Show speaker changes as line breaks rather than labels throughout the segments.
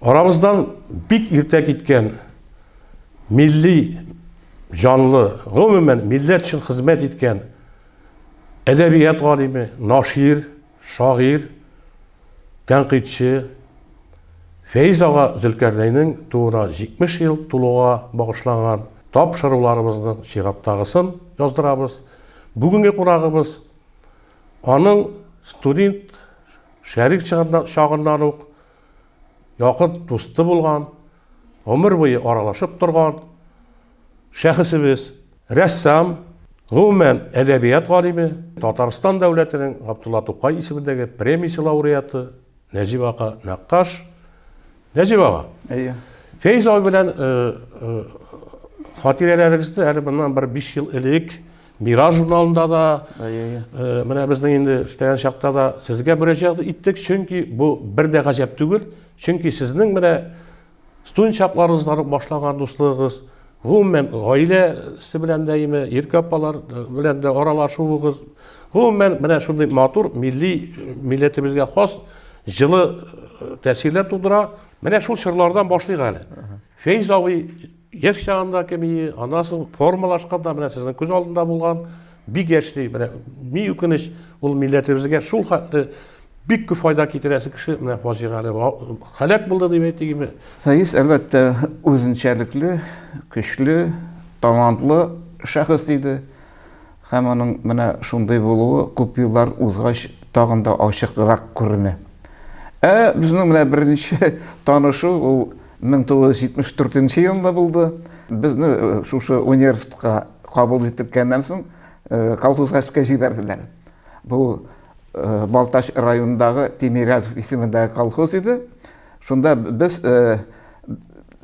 Арабыздан бик иртә киткән милли җанлы, гомумән, милләт өчен хезмәт иткән әдәбият галиме, нашир, шагыйрь, тәнкыйтьче Фәиз ага Зөлкәрнәйнең тууына 70 ел тулуга багышланган тапшыруларыбызның чираттагысын яздырабыз. Бүгенге кунагыбыз аның студент шәрик чагыннан ук якын дусты булган, гомер буе аралашып торган шәхесебез, рәссам, гомумән, әдәбият галиме, Татарстан дәүләтенең Габдулла Тукай исемендәге премиясе лауреаты Нәҗип ага Нәккаш. Нәҗип ага. Әйе. Фәйз абый белән хатирәләрегезне әле моннан бер 5 ел элек Мираж журналында да, менә безнең инде эшләгән чакта да сезгә мөрәҗәгать иттек, чөнки бу бер дә гаҗәп түгел, чөнки сезнең менә студент чакларыгыздан ук башлаган дуслыгыгыз, гомумән, гаиләсе белән дә име, иркә апалар белән дә аралашуыгыз, гомумән, менә шундый матур, милли, милләтебезгә хас җылы тәэсирләр тудыра. Менә шул чорлардан башлыйк әле. Фәиз абый Яшь чагында кемие, аннан соң формалашканда менә сезнең күз алдында булган бик яшьли. Менә ни үкенеч, ул милләтебезгә шул хәтле бик күп файда китерәсе кеше менә фаҗигале һәлак булды дип әйтегезме? Фәиз, әлбәттә, үзенчәлекле, көчле, талантлы шәхес иде. Һәм аның менә шундый булуы күп еллар узгач тагын да ачыграк күренә. Ә безнең менә беренче танышу ул 1974 нче елында булды. Безне шушы университетка кабул иттерткәннән соң колхоз гаскә җибәрделәр. Бу Балтач районындагы Тимирязев исемендәге колхоз иде. Шунда без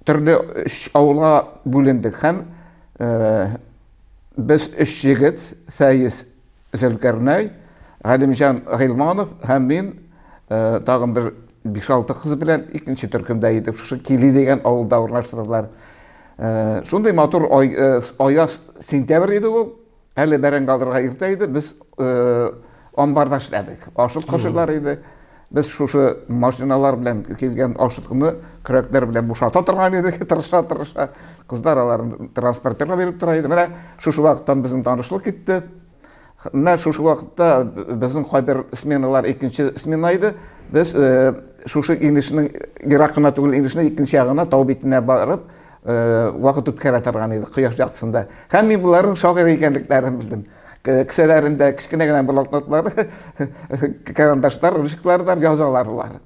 төрле өч авылга бүлендек һәм Без өч егет, Фәиз, Зөлкәрнәй, Галимҗан Гыйлманов һәм мин тагын бер биш-алты кыз белән икенче төркемдә идек. Шушы Кили дигән авылда урнаштырдылар. Шундый матур аяз сентябрь иде ул. Әле бәрәңге алырга иртә иде. Без амбарда эшләдек. Ашык кошыйлар иде. Без шушы машиналар белән килгән ашытуны көрәкләр белән бушата торган идек, тырыша-тырыша. Кызлар аларын транспортерга биреп тора иде. Менә шушы вакыттан безнең танышлык китте. Менә шушы вакытта безнең кайбер сменалар икенче смена иде. Без э, шушы инешнең ерак кына түгел инешнең икенче ягына тау битенә барып э, вакыт үткәрә торган идек кояш яктысында. Һәм мин боларның шагыйрь икәнлекләрен белдем. кесәләрендә кечкенә генә блокнотлар карандашлар ручкалар бар язалар алар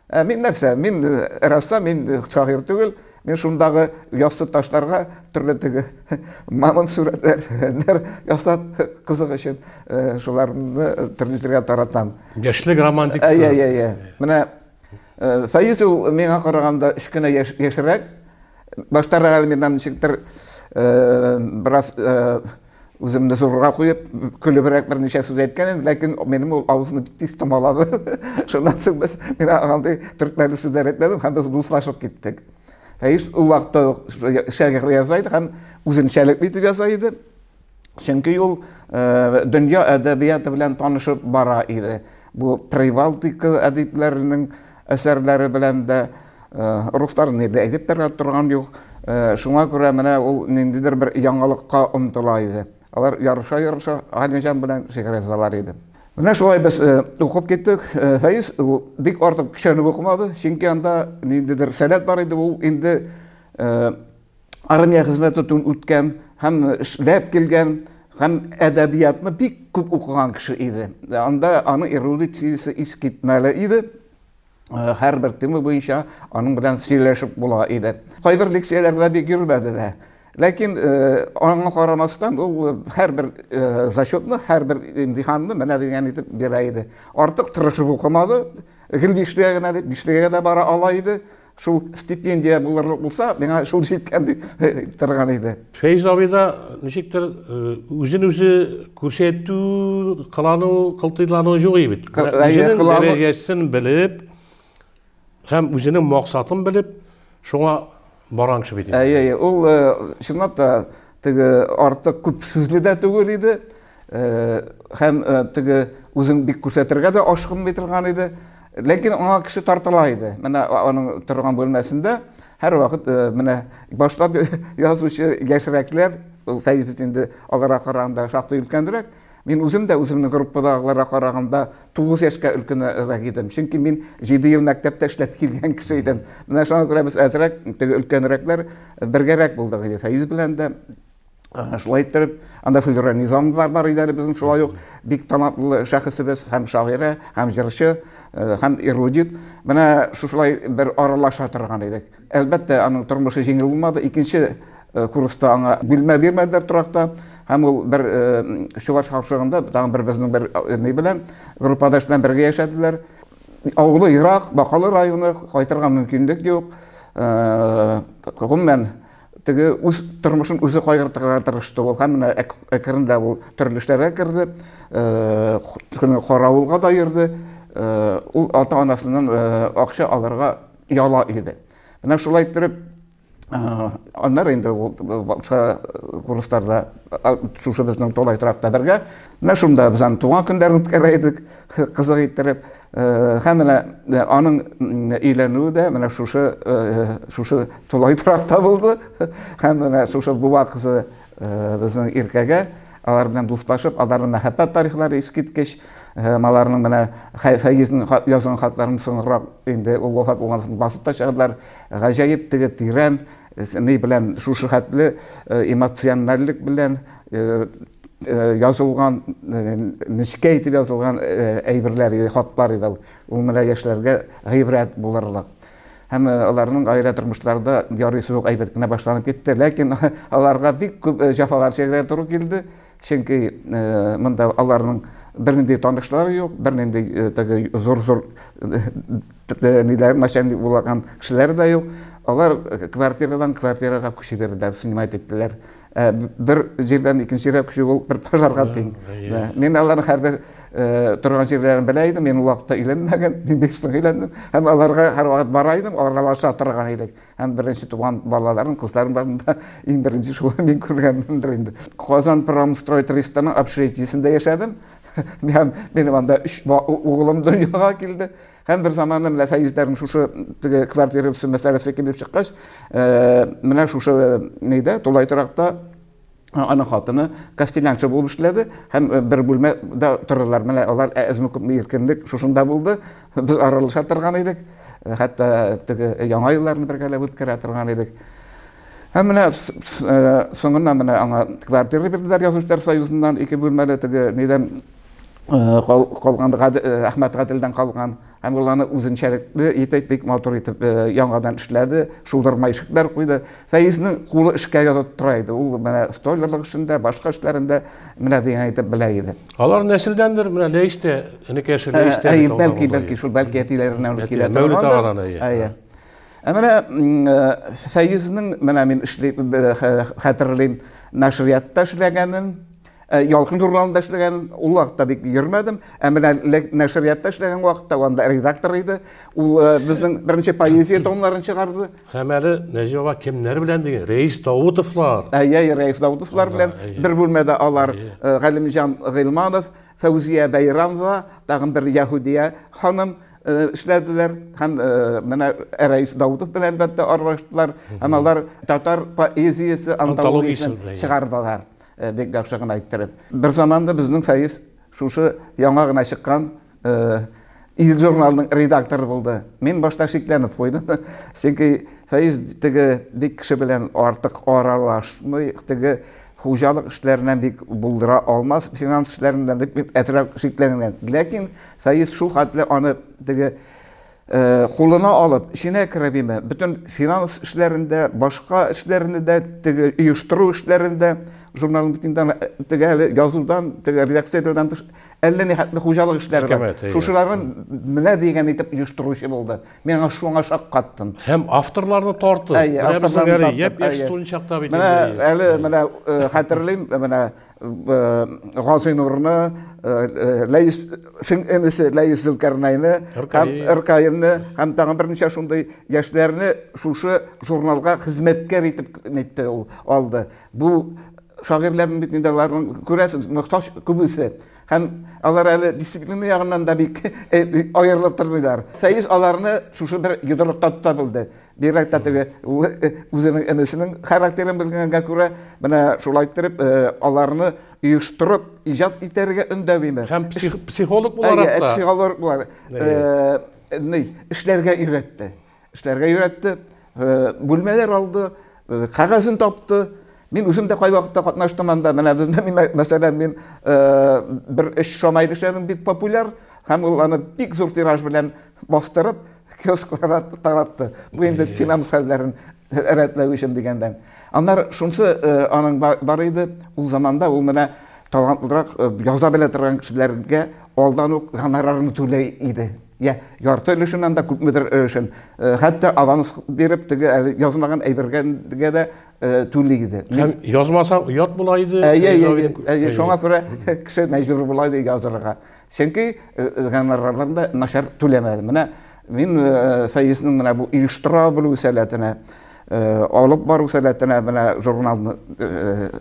ә мин нәрсә мин рәссам мин шагыйрь түгел мин шундагы яссы ташларга төрле теге мамонт сурәтләр ясап кызык өчен шуларны төрле җиргә таратам яшьлек романтикасы иә иә иә менә фәиз ул миңа караганда кечкенә яшьрәк баштарак әле миннән ничектер бераз Үземне зурга куеп, көлебрәк берничә сүз әйткән идем, ләкин минем ул авызны бик тиз томалады. Шуннан соң без мин андый төркмәле сүзләр әйтмәдем һәм без дуслашып киттек. Фәиз ул вакытта шигырь яза иде һәм үзенчәлекле итеп яза иде. Чөнки ул э, дөнья әдәбияты белән танышып бара иде. Бу Прибалтика әдипләренең әсәрләре белән дә руслар ни дә әйтеп тә торган юк. Шуңа күрә менә ул ниндидер бер яңалыкка омтыла иде. Алар ярыша-ярыша Галимҗан белән шигырь язалар иде. Менә шулай без укып киттек. Фәиз бик артык көчәнеп укымады, чөнки анда ниндидер сәләт бар иде, ул инде армия хезмәтен үткән һәм эшләп килгән һәм әдәбиятны бик күп укыган кеше иде. Анда аның эрудициясе искитмәле иде. Э, һәрбер тема буенча аның белән сөйләшеп була иде. Кайбер лекцияләрдә бик йөрмәде дә. Ләкин э, аңа карамастан ул э, һәрбер зачетны, һәрбер имтиханны менә дигән итеп бирә иде. Артык тырышып укымады. Гел бишлегә генә дип бишлегә дә бара ала иде. Шул стипендия булырлык булса, миңа шул җиткән дип торган иде. Фәйз абый да ничектер үзен үзе күрсәтү, кылану, кылтыйлану юк бит. Үзенең дәрәҗәсен белеп һәм үзенең максатын белеп, шуңа барган кеше бит. Әйе, әйе. Ул чынлап та Теге артык күп сүзле дә түгел иде. Һәм теге үзен бик күрсәтергә дә ашкынмый торган иде. Ләкин аңа кеше тартыла иде. Менә аның торган бүлмәсендә һәрвакыт менә башта язучы яшьрәкләр, Сәйфетдин инде аларга караганда шактый өлкәнрәк, Мин үзем дә үземнең группадагыларга караганда тугыз яшькә өлкәнрәк идем. Чөнки мин җиде ел мәктәптә эшләп килгән кеше идем. Менә шуңа күрә без әзрәк, теге өлкәнрәкләр бергәрәк булдык иде. Фәиз белән дә шулай иттереп, анда Флюра Низамова бар иде әле безнең шулай ук бик талантлы шәхесебез һәм шагыйрә, һәм җырчы, һәм эрудит. Менә шушылай бер аралаша торган идек. Әлбәттә, аның тормышы җиңел булмады. Икенче курста аңа бүлмә бирмәделәр торакта. Һәм ул бер чуаш хавшыгында, тагын бер безнең бер ни белән, группадаш белән бергә яшәделәр. Авылы ерак, Бакалы районы, кайтырга мөмкинлек юк. Гомумән, теге үз тормышын үзе кайгыртырга тырышты ул һәм менә әкренлә ул төрле эшләргә керде каравылга да йөрде ул ата анасыннан акча алырга яла иде. Менә шулай иттереп, аннары инде ул башка курсларда шушы безнең Толай торакта бергә. Менә шунда без аны туган көндәрен үткәрә идек, кызык иттереп. Һәм менә аның өйләнүе дә менә шушы шушы Толай торакта булды. Һәм менә шушы буа кызы Безнең Иркәгә алар белән дуслашып, аларның мәхәббәт тарихлары искиткеч, һәм аларның менә Фәйезнең язган хатларын соңрак инде ул вафат булган соң басып та чыгардылар. Гаҗәеп теге тирән ни белән шушы хәтле эмоциональлек белән язылган, нечкә итеп язылган әйберләр иде, хатлар иде ул. Ул менә яшьләргә гыйбрәт булырлык. һәм аларның гаилә тормышлары да ярый суык әйбәт кенә башланып китте. Ләкин аларга бик күп җафалар чигәргә туры килде, чөнки монда аларның бернинди танышлары юк, бернинди теге зур-зур ниләр начальник булган кешеләр дә юк. Алар квартирадан квартирага күчеп йөрделәр, снимать иттеләр. Ә бер җирдән икенче җиргә күчү ул бер пожарга тиң. Мин аларның һәрбер торган җирләрен белә идем, мин ул вакытта өйләнмәгән, мин биш ел өйләндем. Һәм аларга һәрвакыт бара идем, аралаша торган идек. Һәм беренче туган балаларын, кызларын барын да иң беренче шул мин күргәнмендер инде. Казан промстрой тристаның общежитиесендә яшәдем. Һәм минем анда өч углым дөньяга килде. Һәм бер заманда менә Фәйзләрнең шушы теге квартира бирсен мәсьәләсе килеп чыккач, э, менә шушы э, нидә, тулай торакта э, аның хатыны костелянчы булып эшләде һәм бер бүлмәдә тордылар. Менә алар әзме күпме иркенлек шушында булды. Без аралаша торган идек. Хәтта теге яңа елларны бергәләп үткәрә торган идек. Һәм менә соңыннан менә аңа квартира бирделәр язучылар союзыннан ике бүлмәле теге нидән калган Әхмәт Гаделдән калган һәм ул аны үзенчәлекле итеп бик матур итеп яңадан эшләде, шудырма ишекләр куйды. Фәизнең кулы эшкә язып тора иде. Ул менә стойлерлык эшендә, башка эшләрендә менә дигән итеп белә иде. Алар нәселдәндер, менә Ләйстә, энекәше Ләйстә. Әй, бәлки, бәлки, шул бәлки әтиләреннән үк килә торган. Мәүлет агадан, әйе. Ә менә Фәизнең, менә мин эшли хәтерлим, нәшриятта эшләгәнен, Э, Ялкын журналында эшләгән ул вакытта бик йөрмәдем, ә менә нәшриятта эшләгән вакытта анда редактор иде. Ул э, безнең беренче поэзия томнарын чыгарды. Һәм әле Нәҗи баба кемнәр белән диген? Рәис Даутовлар. Әйе, әйе, Рәис Даутовлар белән бер бүлмәдә алар э, Галимҗан Гыйлманов, Фәүзия Бәйрамова, тагын бер Яһудия ханым эшләделәр һәм менә Рәис Даутов белән әлбәттә аралаштылар. Һәм алар татар поэзиясе антологиясен чыгардылар. Э, бик яхшы гына әйттереп. Бер заманда безнең Фәиз шушы яңа гына чыккан э, ил журналының редакторы булды. Мин башта шикләнеп куйдым. Чөнки Фәиз теге бик кеше белән артык аралашмый, теге хуҗалык эшләреннән бик булдыра алмас, финанс эшләреннән дип әтрәк шикләнгән. Ләкин Фәиз шул хәтле аны теге Э, кулына алып эченә керә биме бөтен финанс эшләрендә башка эшләрендә дә теге оештыру эшләрендә журналның битендән э, теге әле язудан теге редакциядән тыш әллә ни хәтле хуҗалык эшләре бар шушыларын менә дигән итеп оештыручы булды мин аңа шуңа шаккаттым һәм авторларны тартып менә безнең әле япь яшь студенчакта бит менә әле менә э, хәтерлим менә Газыйнурны, Ләйс сеңлесе Ләйс Зөлкарнайны һәм Иркаенны һәм тагын берничә шундый яшьләрне шушы журналга хезмәткәр итеп нитте ул алды. Бу шагыйрьләрнең бит инде аларның күрәсез, мохтаҗ күбесе. Һәм алар әле дисциплина ягыннан да бик аерылып тормыйлар. Фәиз аларны шушы бер йодрыкта тота белде. Бигрәк тә теге үзенең энесенең характерын белгәнгә күрә, менә шулай иттереп аларны оештырып, иҗат итәргә өндәви ме? Һәм психолог буларак та. Психолог буларак. Ни, эшләргә өйрәтте. Эшләргә өйрәтте, бүлмәләр алды, кагазын тапты. Мин үзем дә кай вакытта катнаштым анда. Менә бездә, мәсәлән, мин бер эш шамай эшләдем, бик популяр, һәм ул аны бик зур тираж белән бастырып, киоскларга таратты. Бу инде финанс хәлләрен рәтләү өчен дигәндән. Аннары шунсы э, аның бар иде, ул заманда ул менә талантлырак э, яза белә торган кешеләргә алдан ук гонорарын түләй иде. Я, ярты өлешеннән дә күпмедер өлешен. Э, хәтта аванс биреп, теге әле язмаган әйбергә дә түли иде. Һәм язмаса оят була иде. Әйе, әйе, әйе, шуңа күрә кеше мәҗбүр була иде язырга. Чөнки гонорарларны начар түләмәде. Менә мин Союзның менә бу оештыра белү сәләтенә, алып бару сәләтенә менә журналны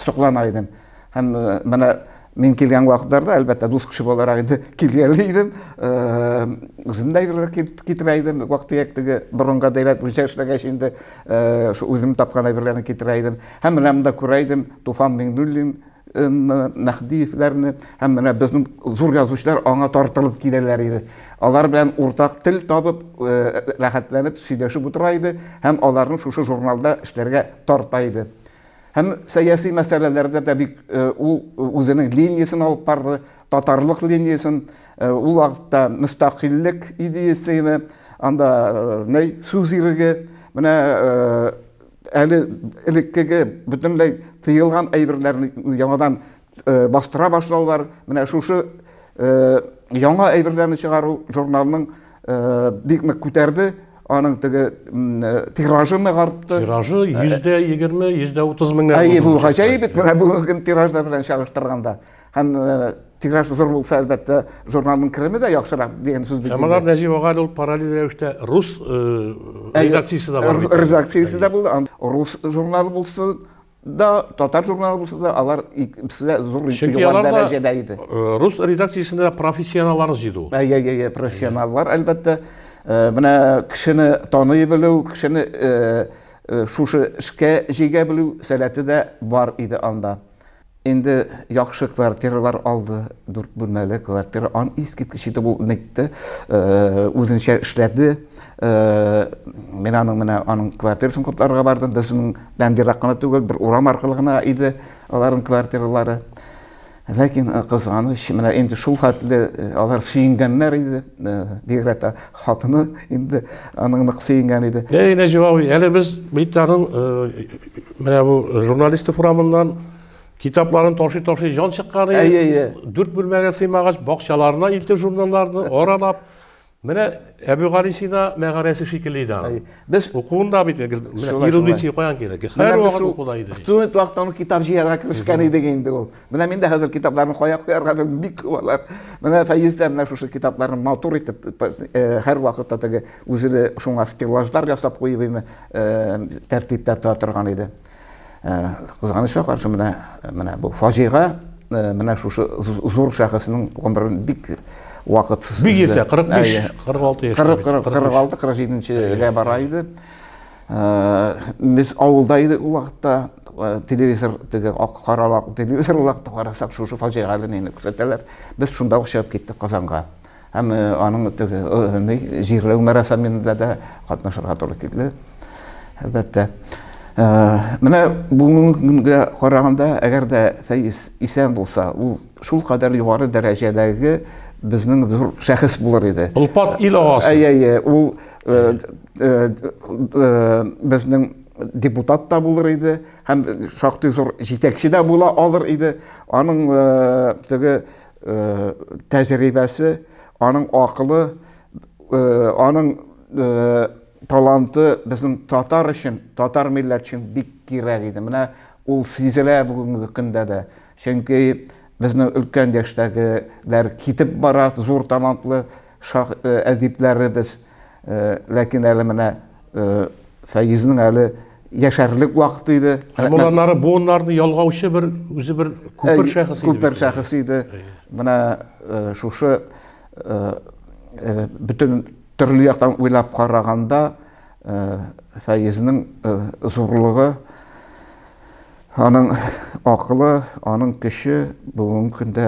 соклана идем. Һәм менә мин килгән вакытларда, әлбәттә, дус кеше буларак инде килгәли идем, үзем дә әйберләр китерә идем, вак-төяк теге борынгы дәүләт буенча эшләгәч инде, шул үзем тапкан әйберләрне китерә идем. Һәм менә монда күрә идем, Туфан Миңнуллин, Мәһдиевләрне һәм менә безнең зур язучылар аңа тартылып киләләр иде. Алар белән уртак тел табып, рәхәтләнеп сөйләшеп утыра иде һәм аларны шушы журналда эшләргә тарта иде. Һәм сәяси мәсьәләләрдә дә бик ул үзенең линиясен алып барды, татарлык линиясен. Ул вакытта мөстәкыйльлек идеясене, анда нәй сүз иреге, менә әле элеккеге бөтенләй тыелган әйберләрне яңадан э, бастыра башлаулар менә шушы э, яңа әйберләрне чыгару журналның э, бик нык күтәрде аның теге тиражы нык артты тиражы йөз дә егерме йөз дә отыз меңнәр әйе бу гаҗәеп бит менә бүгенге тиражлар белән чагыштырганда Һәм тираж зур булса, әлбәттә, журналның кереме дә яхшырак дигән сүз бит. Ә монда Нәҗип ага ул параллель рәвештә рус редакциясе дә бар бит. Редакциясе дә булды. Рус журналы булса да, татар журналы булса да, алар икесе дә зур югары дәрәҗәдә иде. Рус редакциясендә профессионаллар җыйды ул. Әйе, әйе, профессионаллар, әлбәттә. Менә кешене таный белү, кешене шушы эшкә җигә белү сәләте дә бар иде анда. Инде яхшы квартиралар алды, дүрт бүлмәле квартира. Ан искиткеч иде ул нитте, э, үзенчә эшләде. Э, мин аның менә аның квартирасын котларга бардым. Безнең дән ерак кына түгел, бер урам аркылы гына иде аларның квартиралары. Ләкин э, кызганыч, менә инде шул хәтле алар сөенгәннәр иде. Бигрәк тә Хатыны инде аның нык сөенгән иде. Әй, Нәҗип абый, әле без бит аның э, менә бу журналисты форамыннан китапларын ташый-ташый җан чыккан иде. Дүрт бүлмәгә сыймагач, бакчаларына илтеп журналларны аралап Менә Әбү Галисина мәгарәсе шикелле иде аны. Без укуында бит ирудиция каян кирәк? Һәр вакыт укуда иде. Студент вакытта аны китап җыярга керешкән идек инде ул. Менә мин дә хәзер китапларны кая куярга белмим, бик күбалар. Менә Фәйз дә менә шушы китапларны матур итеп э, һәр вакытта теге үзенә шуңа стеллажлар ясап куеп име э, тәртиптә тора торган иде. Э, кызганычка каршы менә менә бу фаҗига менә шушы зур шәхеснең гомерен бик вакытсыз бик иртә 45 46 яшь 40 46 47 нчегә бара иде Без авылда идек ул вакытта, телевизор теге карала телевизор ул вакытта карасак шушы фаҗигале нейне күрсәтәләр. Без шунда ук чыгып киттек Казанга. Һәм аның теге җирләү мәрәсәмендә дә катнашырга туры килде. Әлбәттә. Менә бүгенге көнгә караганда, әгәр дә Фәиз исән булса, ул шул кадәр югары дәрәҗәдәге безнең зур шәхес булыр иде. Олпат ил агасы. Әйе, әйе, ул Э, э, безнең депутат та булыр иде һәм шактый зур җитәкче дә була алыр иде аның э, теге тәҗрибәсе аның акылы аның таланты безнең татар өчен татар милләт өчен бик кирәк иде менә ул сизелә бүгенге көндә дә чөнки безнең өлкән яшьтәгеләр китеп бара зур талантлы әдипләребез Ләкин әле менә Фәйизнең әле яшәрлек вакыт иде. Һәм уланнары буыннарны ялгаучы бер үзе бер күпер шәхесе иде. Күпер шәхесе иде. Менә шушы бөтен төрле яктан уйлап караганда Фәйизнең зурлыгы, аның акылы, аның көче бүгенге көндә